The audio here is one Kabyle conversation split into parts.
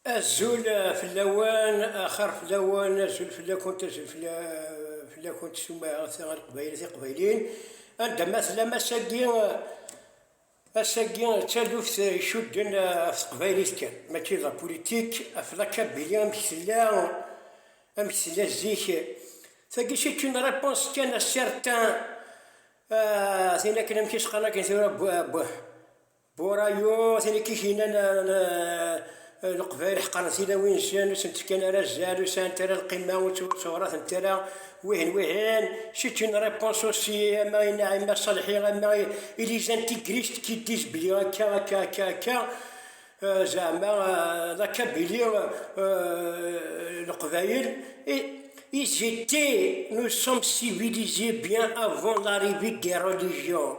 Azul fell-awen, axir fell-awen, azul fell-akent, azul fell-akent s umaɣet ar Qbayli tiqbayliyin, anda ma tellam ass-agi, ass-agi d taluft icudden ɣef teqbaylit kan, mačči d apulitik, ɣef la Kabili amek tella, amek tella zik, tagi c'est une réponse kan à certains, tin akken amek i s-qqaren akken tura, Burayu, tin i k-ikinan leqbayel ḥeqren tilawin-nsen, ur sent-fkan ara azal, ur sɛant ara lqima, ur ttewratent ara wihin wihin. C'est une réponse aussi, ama i Naïma Salhi, ama i les intégristes qui disent belli akka, akka, akka, akka, zeɛma la Kabylie, leqbayel, ils étaient, nous sommes civilisés bien avant l'arrivée des religions.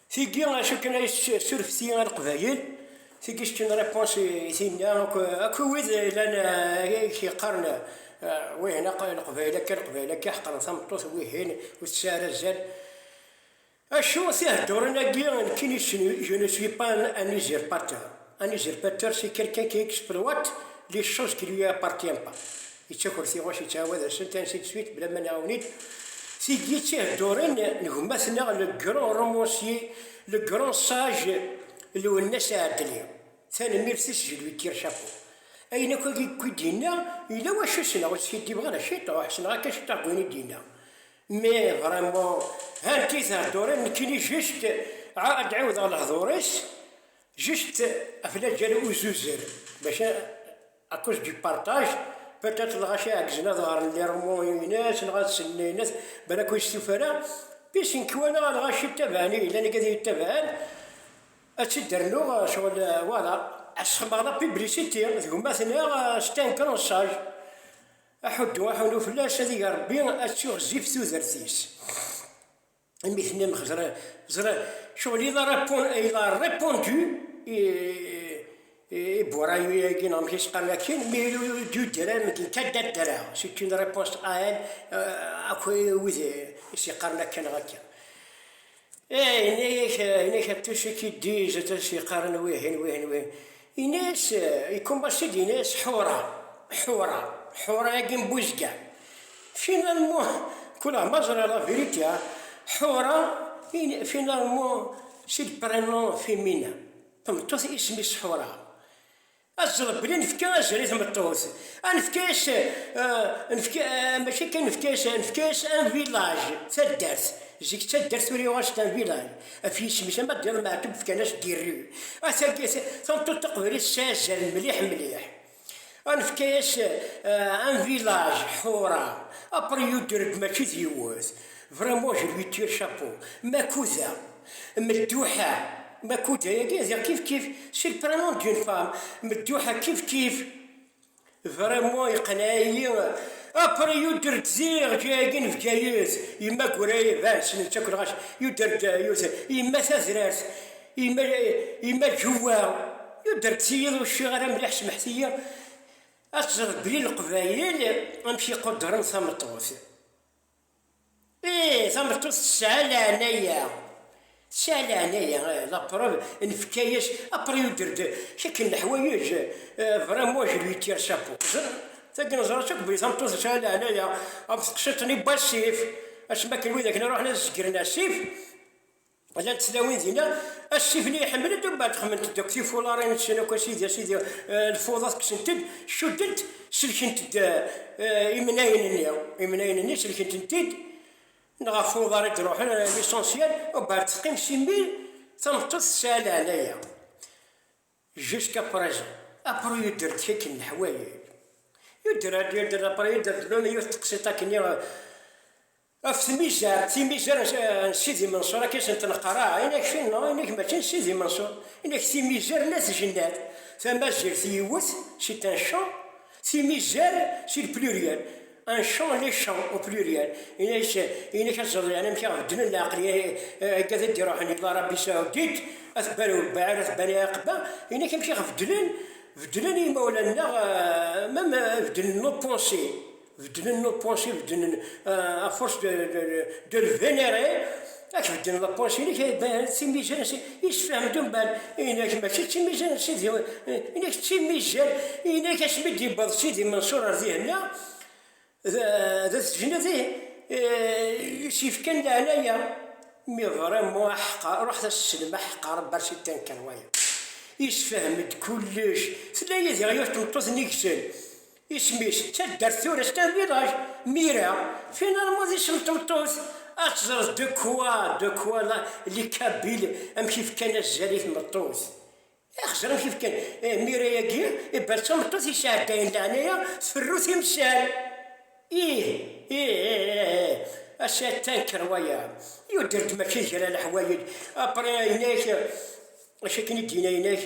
Tigi acu akken ay surfti i Leqbayel, tigi c'est une réponse i tinna akk akk i wid llan ay k-yeqqaren wihin akk Leqbayel akka Leqbayel akka ḥeqren tameṭṭut wihin ur tesɛi ara azal. Acu tiheddurin-agi nekkini je ne suis pas un usurpateur. Un usurpateur c'est quelqu'un qui exploite les choses qui lui appartiennent pas yettaker tiɣuc yettɛawad asent ainsi de suite bla ma nɛawen-it tid yettihedduren n gma-tneɣ le grand romancier le grand sage Lwennas Ɛedli tanemmirt-is je lui tire chapeau ayen akk agi i d-yenna yella wacu ssneɣ ur skiddibeɣ ara ciṭ ur ḥesneɣ akka ciṭ deg wayen i d-yenna mais vraiment hanti theddurin nekkini juste ad ɛiwdeɣ lehdur-is Juste akken ad ǧǧan uzuzer, maca à cause du partage, peut-être dɣa ci ɛeggzen ad ɣren lirmuyen-ines, neɣ ad sellen ayen-ines, balak ur yestufa ara, puis nekk walaɣ dɣa ci ttabaɛen i yellan akka ad iyi-ttabaɛen, ad tt-id-rnuɣ ccɣel voilà, asxemmeɣ la publicité d gma-tneɣ c'est un grand sage, aḥuddu aḥunu fell-as, ad iger Rebbi, ad tuɣ zzif tudert-is. Amek tenna ẓriɣ ẓriɣ ccɣel il a répondre il a répondu i i burayu-agi neɣ amek i s-qqaren akin mi du dram d kadda dra c'est une réponse à elle akk wid i s-yeqqaren akka neɣ akka eh yenna-yak yenna-yak tous ceux qui disent as-yeqqaren wihin wihin wihin Yenna-yas, ikumbas-id, yenna-yas Ḥura, Ḥura, Ḥura-agi n Buzga. Finalement, kulaɣ ma ẓriɣ la vérité, Ḥura, finalement, c'est le prénom féminin, tameṭṭut isem-is Ḥura. Ad teẓreḍ belli nefka azal i tmeṭṭut, ad nefka-yas, nefka, mačči kan nefka-yas, nefka-yas un village, taddart, zik d taddart, tura yuɣal-as-d un village. Ɣef yisem-is ama d iḍ Meɛtub fkan-as Girri. Asagi tameṭṭut taqbaylit tettazal mliḥ mliḥ. Ad nefk-as un village Ḥura, après you Drg mačči d yiwet. Vraiment je lui tire chapeau. Makuda, Medduḥa, Makuda yagi d kif kif c'est le prénom d'une femme, Medduḥa kif kif. Vraiment yeqneɛ-iyi après yuder-d ziɣ agi n Bgayet yemma Gurayeb ah ssnen-tt akk lɣaci yuder-d yemma Tazrart yemma Ǧuwa yuder-d s yiḍ ur cciɣ ara mliḥ semḥet-iyi ad teẓreḍ belli Leqbayel amek i quddren tameṭṭut. Ih, tameṭṭut tesɛa leɛnaya. Tesɛa leɛnaya, ih, la preuve, nefka-yas après une durée de kikk n leḥwayeǧ, vrai moi je lui tire chapeau. Ẓer, tagi neẓra-tt akk belli tameṭṭut tesɛa leɛnaya, am teqsiṭ-nni n wasif, asmi akken wid akken iruḥen ad zegren asif, Llant tlawin dinna, asifli iḥemmel-d umbeɛd xemmlent-d akk tifularin-nsen akk a sidi a sidi, eh, lfuḍat kksen-t-id, cuddent, selkent-d eh, imnayen-nni, imnayen-nni selkent-tent-id, neɣ ɣef uḍar i d-ruḥen, eh, lisansyal, umbeɛd teqqim si mmi, tameṭṭut tesɛa leɛnaya. Jusqu'à présent. Après yudder-d kak n leḥwayel. Yudder-d, yudder-d, après yudder-d, même yiwet n teqsiṭ akkenni, eh, Ɣef tmiza, timiza n Sidi Menṣur akka i sent-neqqar, ah, inak tin neɣ inak mačči n Sidi Menṣur, inak timizar n At Jennad, tamazirt yiwet, c'est un champ, timizar c'est le pluriel, un champ les champs au pluriel, inak inak ad teẓreḍ yeɛni amek i aɣ-beddlen leɛqel igad i d-iruḥen yella Rabbi Saoudit, At Bani Webbaɛir, At Bani Ɛaqba, inak amek i aɣ-beddlen, beddlen i yimawlan-nneɣ, même beddlen nos pensées. beddlen lapansi, beddlen euh, à force de, de, de le vénérer, ad k-beddlen lapansi-inek, d timizan, yessefhem-d umban, inek mačči d timizan, sidi, inek d timizan, inek asmi d-yewweḍ sidi Mansour ar dihenna, d tejned yessifkan leɛnaya, mi vraiment aḥeqqa, ruḥet as-slem aḥeqqa, rebbi ar sitan kan wayeḍ. Yessefhem-d kullec, tella yid-i yiwet tmeṭṭut n yigsen, Isem-is d taddart tura c'est un village, Mira, finalement d isem n tmeṭṭut, ad teẓreḍ de quoi, de quoi la, les Kabyles amek i fkan azal i tmeṭṭut. Ax, ẓer amek i fkan, eh, Mira-agi, iban d tameṭṭut yesɛeddayen leɛnaya, tferru timsal. Ih, ih, ih, ih, ih, ass-a ad tanker waya, yuder-d mačči d kra leḥwayeǧ, après, yenna-ak, acu akken i d-yenna, yenna-ak,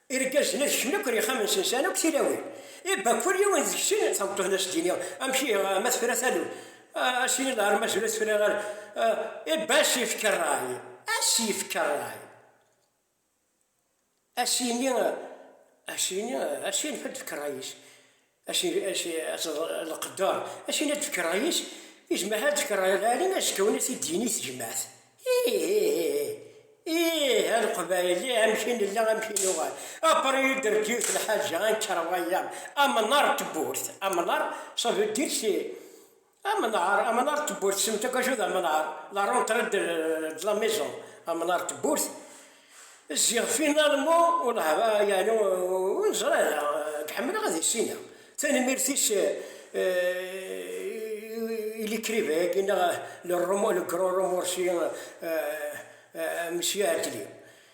Irgazen ad kecmen akk ar yexxamen-nsen, sɛan akk tilawin. I bakk kul yiwen deg-sen, tameṭṭut-nni ad s-d-iniɣ, Amek ihi, ma tefra taluft? Ah, ad s-yini lɛar, Mazal ur tefriɣ ara. Ah, i ba, ad s-yefk rray, ad s-yefk rray. Ad s-yini, ad s-yini, ad s-yanef ad d-tefk rray-is. Aci aci aci lqedder, aci la d-tkerrayis i jmaɛa la d-tkerrayeḍ ɛli azekka wi as id-yini i tejmaɛt, iihihihi, iih a leqbayel, ih amek i nella amek i nuɣal, après yudder-d yiwet lḥaǧa, a nekker wayeḍ, amnar n tewwurt, amnar, ça veut dire c'est. Amnar, amnar d tewwurt, semmet akk acu d amnar, la rentrée de de la maison, amnar d tewwurt, ziɣ finalement ur neɛba yeɛni ur neẓri ara, nekk ḥemmleɣ ad issineɣ, tanemmirt-is i l'écrivain-agi neɣ le grand romancier Monsieur Attlee.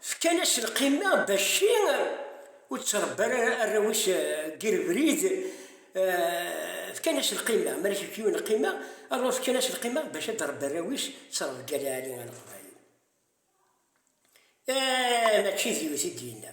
Fkan-as lqima Bacci ur ttrebbi ara arraw-is deg rebrid, fkan-as lqima, ma yefka yiwen lqima, alors fkan-as lqima bac ad d-rebbi arraw-is, ttrebgal Ɛli Alexḍari. Eeh mačči d yiwet i d-yenna.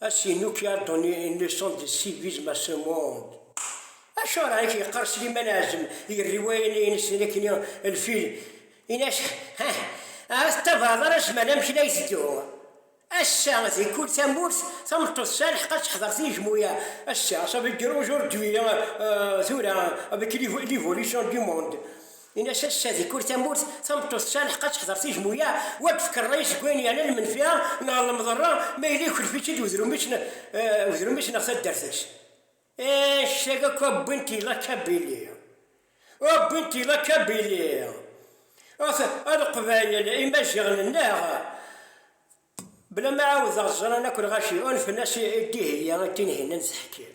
Ass-i nuki a donné une leçon de civisme à ce monde. Acuɣer i k-yeqqar Sliman Ɛazem i rriwaya-nni-ines di nekni lfil ines hah ahat ttabaɛeḍ ara zzman amek la iteddu ass-a di kul tamurt tameṭṭut tesɛa lḥeqq ad teḥder tijmuya ass-a ça veut dire aujourd'hui tura avec l'évolution du monde Ini-as a ccah di kul tamurt tameṭṭut tesɛa lḥeqq ad teḥder tijmuya u ad d-tefk rray-is deg wayen yeɛnan lmenfiɛa neɣ lemḍerra ma yella yuklef-itt-id wedrum-is neɣ taddart-is. Annect-agi akk a wwin-t i la Kabili. A wwin-t i la Kabili. At a Leqbayel, Imaziɣen-nneɣ, bla ma ɛawdeɣ ẓran akk lɣaci, unfen-as i Dihya i Tinhinan Zeḥkil.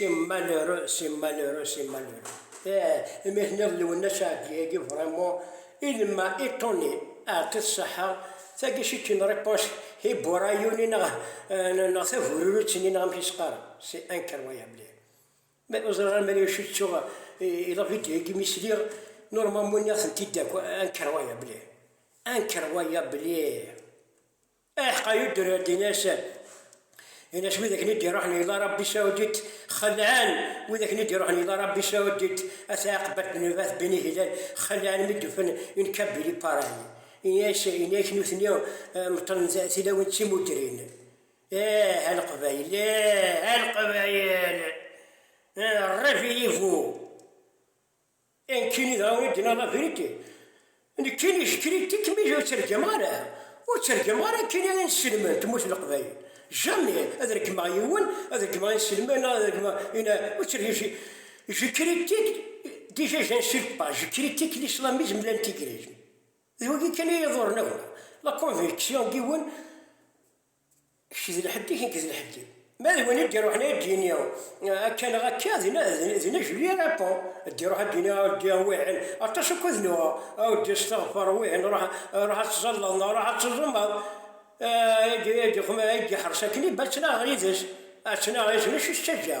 Simmalero, Simmalero, Simmalero. Eh, imi tenniḍ Lwennas Ɛeddi-agi vraiment il m'a étonné, aɛeṭṭi-t ṣṣeḥḥa, tagi c'est une réponse hibourayuni neɣ neɣ tabururut-nni neɣ amek i s-qqaren, c'est incroyable. Ma ur ẓriɣ ara mani acu ttuɣ i la vidéo-agi mi sliɣ, normalement nniɣ-tent-id akk incroyable, incroyable. Aḥeqqa yudder-d in-as, in-as wid akken i d-iruḥen ila Arabbi Saoudit xelɛen, wid akken i d-iruḥen ila Arabbi Saoudit at Ɛaqbat bin Rabat bin Hilal xelɛen mi d-ufen in Kabili Paray, in-as, in-ak nutni meṭṭlen tilawin d timudrin. Eeh a Leqbayel, eeh a Leqbayel, rrif i yivu! E nekkini dɣa i d-yenna labrit, nekkini jekkini tikmij ur tt-reggmeɣ ara, ur tt-reggmeɣ ara nekkini inselmen n tmurt n Leqbayel, jamais ad reggmeɣ yiwen, ad reggmeɣ inselmen neɣ ad reggmeɣ ina, ur tt-reggmeɣ, jekkini tik, déjà j'insult pas, jekkini tik l'islamisme, l'intégrisme, d wagi kan i yi-iḍurren akk, la conviction n yiwen, Kečč d lḥedd-ik, nekk d lḥedd-iw. Ma d win i d-iruḥen ad d-yini akka neɣ akka, d ne je lui réponds, d-iruḥ ad d-yini aɛuddi wihin, aṭas akk ad nuɣ, aɛuddi asteɣfer wihin, ruḥ ad tẓalleḍ neɣ ruḥ ad teẓumeḍ, i d-yeḥres akken i battnaɣ yid-s, ad ttnaɣ yid-s mačči s taǧǧa.